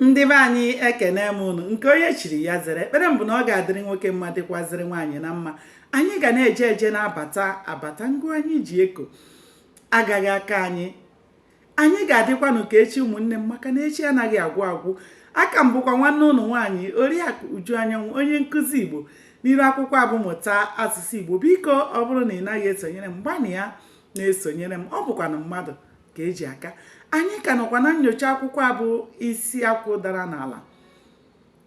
ndị be anyị ekene m ụnụ nke onye chiri ya zere ekpere m bụ na ọ ga-adịrị nwoke mma dịkwazịrị nwaanyị na mma anyị ga na-eje eje na-abata abata ngụ anyị ji eko agaghị aka anyị anyị ga-adịkwanụ ka echi ụmụnne m maka na echi anaghị agwụ agwụ a ka m bụkwa nwanne ụnụ nwaanyị oriakụ uju anyanwụ onye nkụzi igbo n'iru akwụkwọ a bụ mụta asụsụ igbo biko ọ bụrụ na ị naghị esonyere m gbanịa na-esonyere m ọ bụkwanụ mmadụ ka e ji aka anyị ka nọkwa na nnyocha akwụkwọ a bụ isi akwụ dara n'ala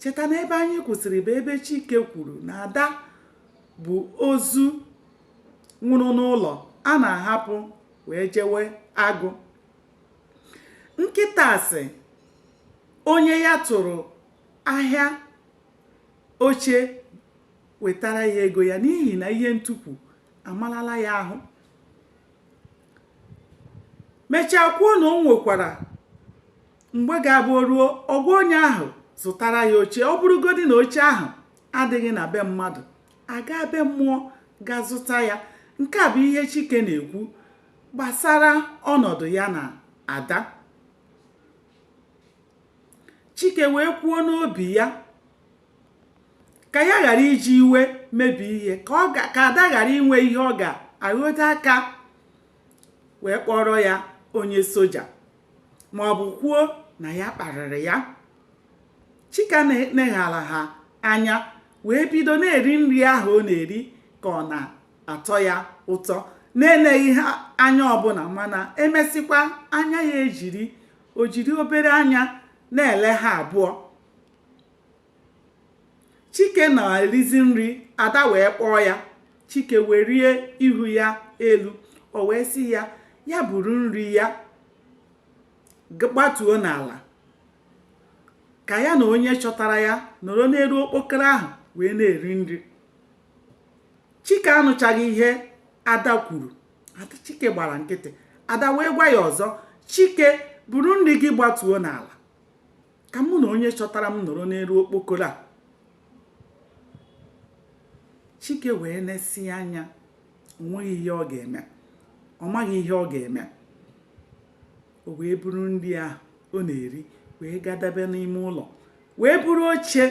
cheta na ebe anyị kwụsịrị bụ ebe chike kwuru na ada bụ ozu nwụrụ n'ụlọ a na-ahapụ wee jewe agụ nkịta sị onye ya tụrụ ahịa oche wetara ya ego ya n'ihi na ihe ntukwu amalala ya ahụ mechaa kwuo na o nwekwara mgbe ga-abụ ruo ọ gwa onye ahụ zụtara ya oche ọ bụrụgodi na oche ahụ adịghị na be mmadụ a gaa be mmụọ ga zụta ya nke a bụ ihe Chike na-ekwu gbasara ọnọdụ ya na Ada Chike wee kwuo n'obi ya ka ya ghara iji iwe mebie ihe ka ada ghara inwe ihe ọ ga-aghọdo aka wee kpọrọ ya onye soja ma ọ bụ kwuo na ya kparịrị ya Chike neghara ha anya wee bido na-eri nri ahụ ọ na-eri ka ọ na-atọ ya ụtọ na-eleghị ha anya ọbụla mana emesịkwa anya ya ejiri o jiri obere anya na-ele ha abụọ chike na-erizi nri ada wee kpọọ ya chike welie ihu ya elu o wee sị ya ya buru nri ya gbatuo n'ala ka ya na onye chọtara ya nọrọ n'elu okpokoro ahụ wee na-eri nri chike anụchaghị ihe ada kwuru ada chike gbara nkịtị ada wee gwa ya ọzọ chike buru nri gị gbatuo n'ala ka mụ na onye chọtara m nọrọ n'elu okpokoro a chike wee nesie anya o nweghị ihe ọ ga-eme ọ maghị ihe ọ ga-eme o wee buru nri ahụ ọ na-eri wee gadabe n'ime ụlọ wee buru oche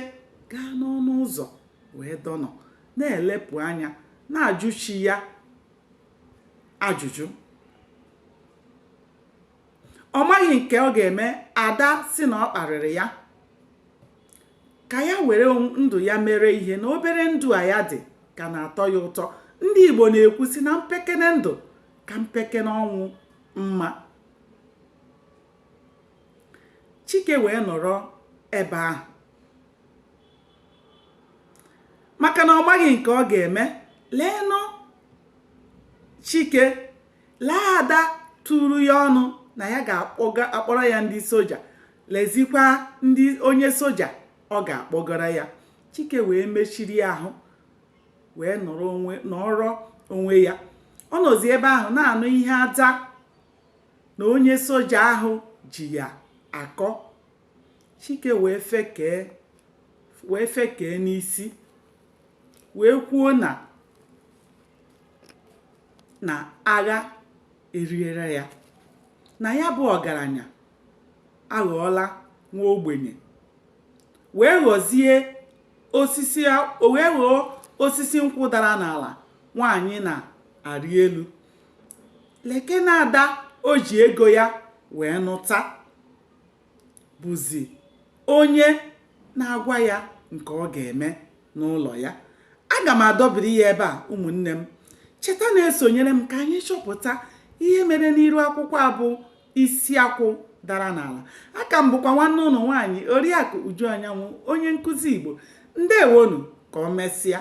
gaa n'ọnụ ụzọ wee dọnọ na-elepụ anya na-ajụ chi ya ajụjụ ọ maghị nke ọ ga-eme ada sị na ọ kparịrị ya ka ya were ndụ ya mere ihe na obere ndụ a ya dị ka na-atọ ya ụtọ ndị Igbo na-ekwu sị na mpekene ndụ ka mpekene ọnwụ mma Chike wee nọrọ ebe ahụ maka na ọ maghị nke ọ ga-eme leenụ chike lee ada tụrụ ya ọnụ na ya ga-akpọrọ ya ndị soja lezikwa ndị onye soja ọ ga-akpọgara ya chike wee mechiri ahụ wee nọrọ onwe ya ọ nọzi ebe ahụ na-anụ ihe ada na onye soja ahụ ji ya akọ chike wee fekee n'isi wee kwuo na agha eriere ya na ya bụ ọgaranya aghọọla nwa ogbenye wee ghọzie osisi nkwụ dara n'ala nwaanyị na-arị elu leke na ada o ji ego ya wee nụta bụzi onye na-agwa ya nke ọ ga-eme n'ụlọ ya aga m adọbiri ya ebe a ụmụnne m cheta na-esonyere m ka anyị chọpụta ihe mere n'iru akwụkwọ a bụ isi akwụ dara n'ala aka m bụkwa nwanne unu nwaanyị oriakụ uju anyanwụ onye nkụzi igbo ndewonu ka o mesịa